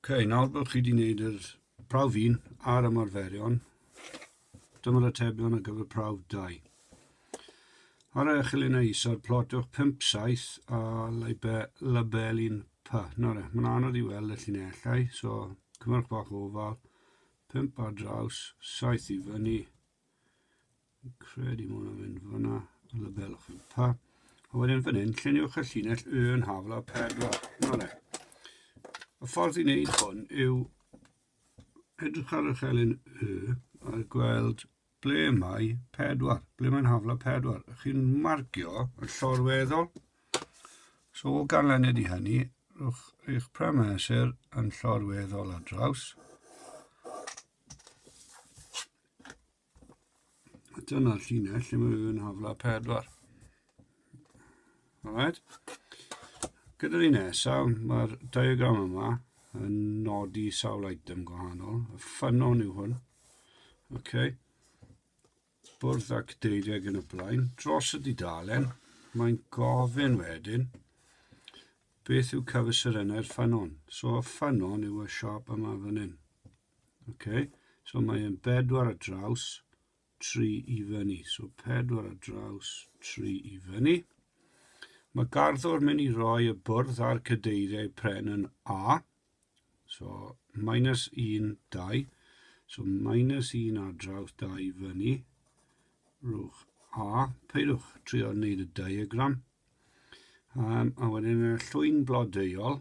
okay, nawr bod chi wedi gwneud yr prawf un a'r ymarferion, dyma'r atebion ar gyfer prawf 2. Ar eich luniau isod, plotwch 5 saith a label un pa. Nawr, e, mae'n anodd i weld y llinellau, so cymrwch bach o ofal, 5 ar draws, saith i fyny, Fi'n credu mae hwnna'n mynd fyna, y label o'ch chi'n pa. A wedyn fan hyn, lluniwch y llinell Y yn hafl a 4. Nole. Y ffordd i wneud hwn yw edrych ar y chelyn Y a gweld ble mae 4, ble mae'n hafl a 4. Ych chi'n marcio yn llorweddol. So o ganlyniad i hynny, rhowch eich premesur yn llorweddol ar draws. A dyna'r llinell lle mae rhywun hafla 4. Alright. Gyda'r un nesaf, mae'r diagram yma yn nodi sawl item gwahanol. Y ffynon yw hwn. Okay. Bwrdd ac deiriau yn y blaen. Dros y didalen, mae'n gofyn wedyn beth yw cyfesurennau'r ffynon. So y ffynon yw y siop yma fan hyn. Okay. So mae e'n bedwar a draws, tri i fyny. So pedwar a draws, tri i fyny. Mae garddwr mynd i roi y bwrdd a'r cadeiriau pren yn A. So minus 1, 2. So minus 1 a draws, 2 i fyny. Rwch A. Peidwch trio wneud y diagram. Um, a wedyn y llwyn blodeuol,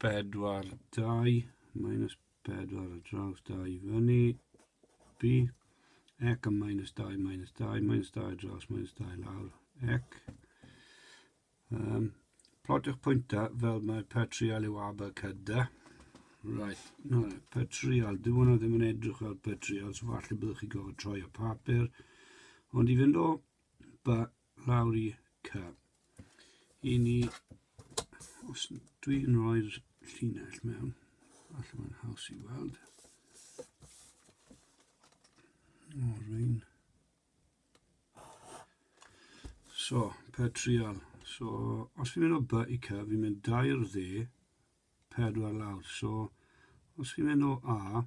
4, 2, minus 4 ar draws 2 i fyny, B, ec a minus 2, minus 2, minus 2 ar draws, minus 2 lawr, ec. Um, plotiwch pwyntau fel mae per trial yw aber cyda. Right, no, per trial, dyw hwnna ddim yn edrych fel per trial, so falle byddwch chi gofod troi y papur. Ond i fynd o ba lawr i ca. I ni, os dwi'n rhoi'r llinell mewn, allan mae'n haws i weld. O, rwy'n... So, per trial. So, os fi'n mynd o by i ca, fi'n mynd dair dde, pedwar lawr. So, os chi'n mynd o A,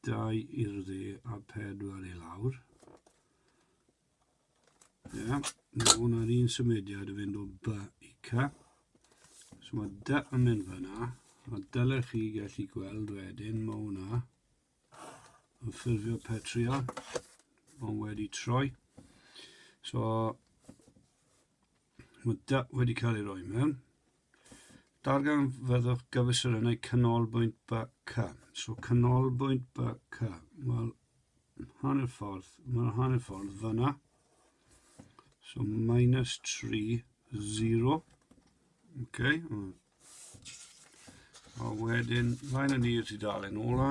dau i'r dde a pedwar i lawr, Ie, mae hwnna'n un symudiad yn fynd o B i C. So mae D yn mynd fyna, a dylech chi gallu gweld wedyn mae hwnna yn ffurfio petrio, ond wedi troi. So mae D wedi cael ei roi mewn. Darganfyddwch gyfesurynnau canolbwynt BK. So canolbwynt BK, wel, hanner ffordd, mae'r hanner ffordd fyna. So minus 3, 0. Okay. A wedyn, fain yn i'r tudalen ola.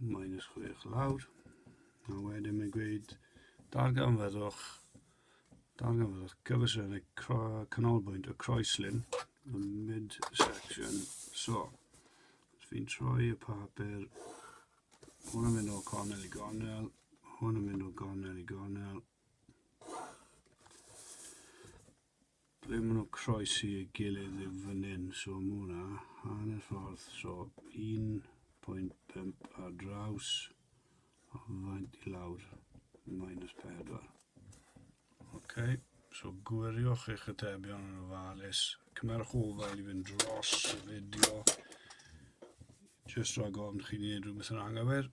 Minus 6 lawr. A wedyn mae'n gweud darganfyddwch darganfyddwch gyfesynnau canolbwynt y croeslin y midsection so. Os fi'n troi y papur, hwn yn mynd o gornel i gornel, hwn yn mynd o gornel i gornel. Ble ma' nhw'n croesi ei gilydd yw fan hyn, so ma' hwnna hanner ffordd, so 1.5 ar draws o faint i lawr, minus 4. Ok, so gwiriwch eich atebion yn ofalus, cymerwch ofal i fynd dros y fideo, jyst rhag ofn chi'n gwneud rhywbeth yn anghywir.